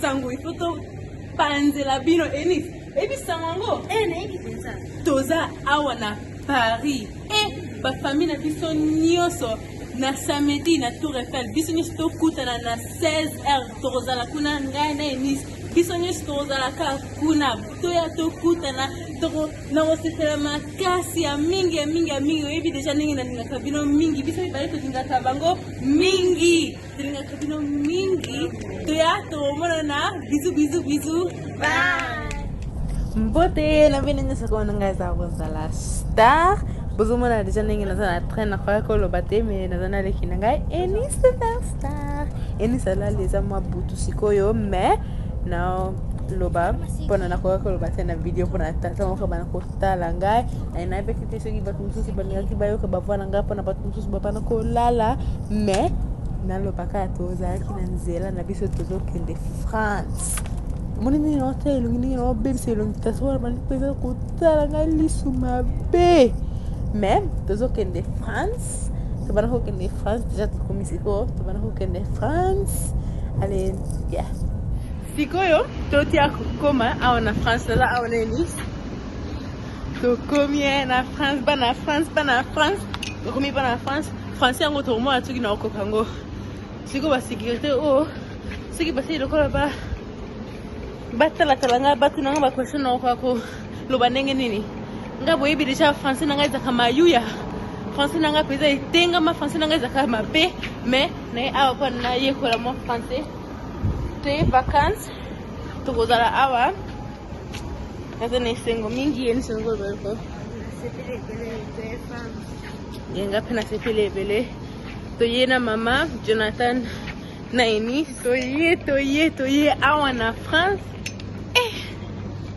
sango il faut topanzela bino enis eyebi sango yango eh, nayebi mpenza toza awa na paris e eh, bafamille na biso nyonso na samedi na tour eiffel biso nyonso tokutana na 16 heure tokozala kuna ngai na enis biso nyonso tokozala kaka kuna toya tokutana nakosepela makasi ya mingi ya mingi ya mingi oyebi deja ndenge nalingaka bino mingi biso mibale tolingaka bango mingi tolingaka bino mingi toya tomonana bizu bizu bizu mbote na bino nyonso komona ngai eza kozala star bozomona deja ndenge naza na train nakoya koloba te me naza na leki na ngai eni superstar eni salali eza mwa butu sikoyo me na loba mpona nakoka koloba te na video mpona tata moko bana kotala ngai nainabeki te soki bato mosusu balingaki bayoka bavwa na ngai mpona bato mosusu bapana kolala mais nalobaka tozalaki na nzela na biso tozokende france omoni ndenge naotya elongi ndenge naobebisa elongi kasi wana bandi mpenza kotala ngai lisu mabe mais tozokende france tobanda kokende france deja tokomi sikoyo tobanda kokende france ale ya sikoyo totia kokoma awa na france naza awa na elise tokomi eh, na france bana france bana france tokomi bana france français yango tokomona soki na okoka yango sikoyo basekirite oyo soki basili lokola ba batalatala ngai batu na ngai baquestion na okoka koloba ndenge nini ngai boyebi deja français na ngai ezaka mayuya français na ngai mpenza etengama français na ngai ezaka mabe mais naye awa mpo nayekola mwa français toye vacance tokozala awa naza na esengo mingi ye nisongo boko ye nga mpe nasepeli ebele toye na mama jonathan na eni toye toye toye awa na france eh,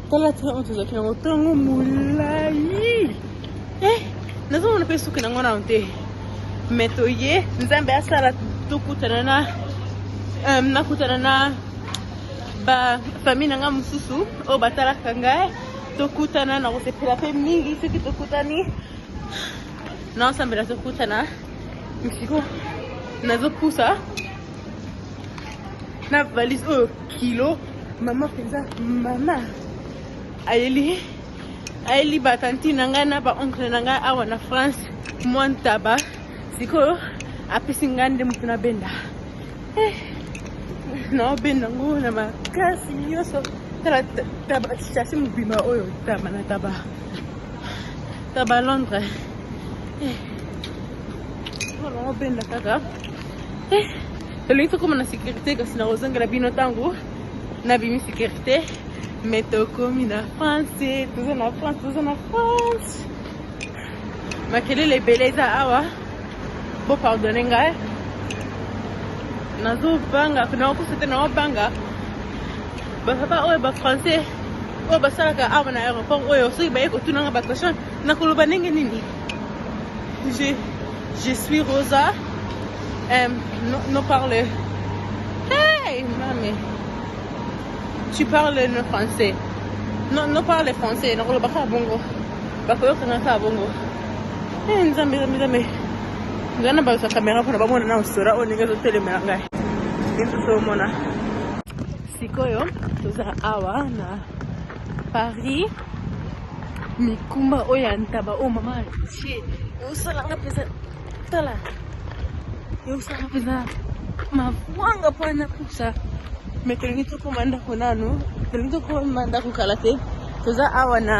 tala tala oyo tozalaki nango ntongo molai eh, nazomona mpe suki nango nano te me toye nzambe asala tokutana na euh, nakutana na ba famille na ngai mosusu oyo batalaka ngai tokutana na kosepela mpe mingi soki tokutani na osambela tokutana misiko nazopusa na valise oyo kilo mama mpenza mama ayeli ayeli batanti na ngai na baoncle na ngai awa na france mwa ntaba sikoyo apesi ngai nde moto na benda Eh, naobenda ngo na makasi nyonso tala taba chasse mobima oyo taba na taba taba londre eh, naobenda kaka eh, tolingi tokoma na sécurité kasi nakozongela bino ntango nabimi sécurité mais tokomi na france toza na france toza na france makelele ebele eza awa bo pardonne ngai nazobanga nakokusa te naobanga bapapa oyo bafrançais oyo basalaka awa na aéroport oyo soki baye kotunanga baquestion nakoloba ndenge nini je, je suis rosa um, no, no parle hey mame tu parles no français no, no parle français nakoloba kaka bongo bakoyoka nga kaka bongo eh, nzambe nzambe nzambe ngai na balusa kamera mpona bamona na osora oyo ndenge ezotelemela ngai lisusu omona sikoyo toza awa na paris mikumba oyo ya ntaba oyo mama atie eosalanga mpenza tala eusaka mpenza mabwanga mpo na pusa me tolingi tokoma ndako nanu tolingi tokoma ndako kala te toza awa na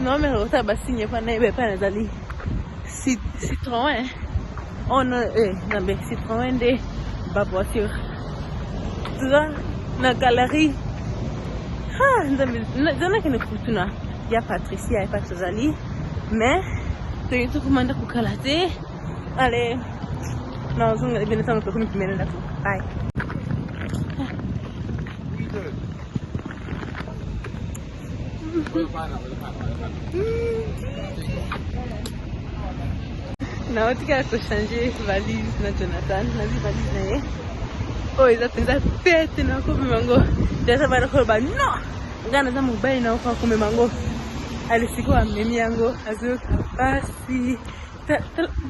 nomero otala basigne mpo nayeba epai nazali citron Oh non, eh, non mais c'est vraiment des bas voiture. Tu vois, na galerie. Ah, non mais, non mais, non mais, non ya patricia epa tozali mais toyei tokomanda kokala te ale nazonga ebene ntango tokomi pemene ndako bay naotika kochange valise na jonathan nazwi valise na ye oyo eza mpenza tete na komema yango jonathan bana koloba no ngai naza mobali na okoka komema yango alesiko amemi yango azoyoka mpasi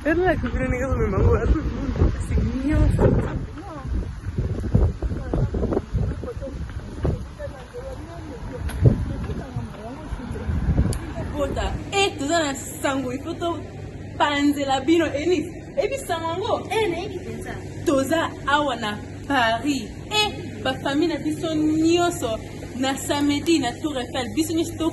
talolaki bino ndenge azomema yango azopasi nyonso bota e eh, toza na sango ifo topanzela bino enis ebisango yango eh, toza awa na paris e eh, bafamille na biso nyonso na samedi na tour eiffel biso nyonso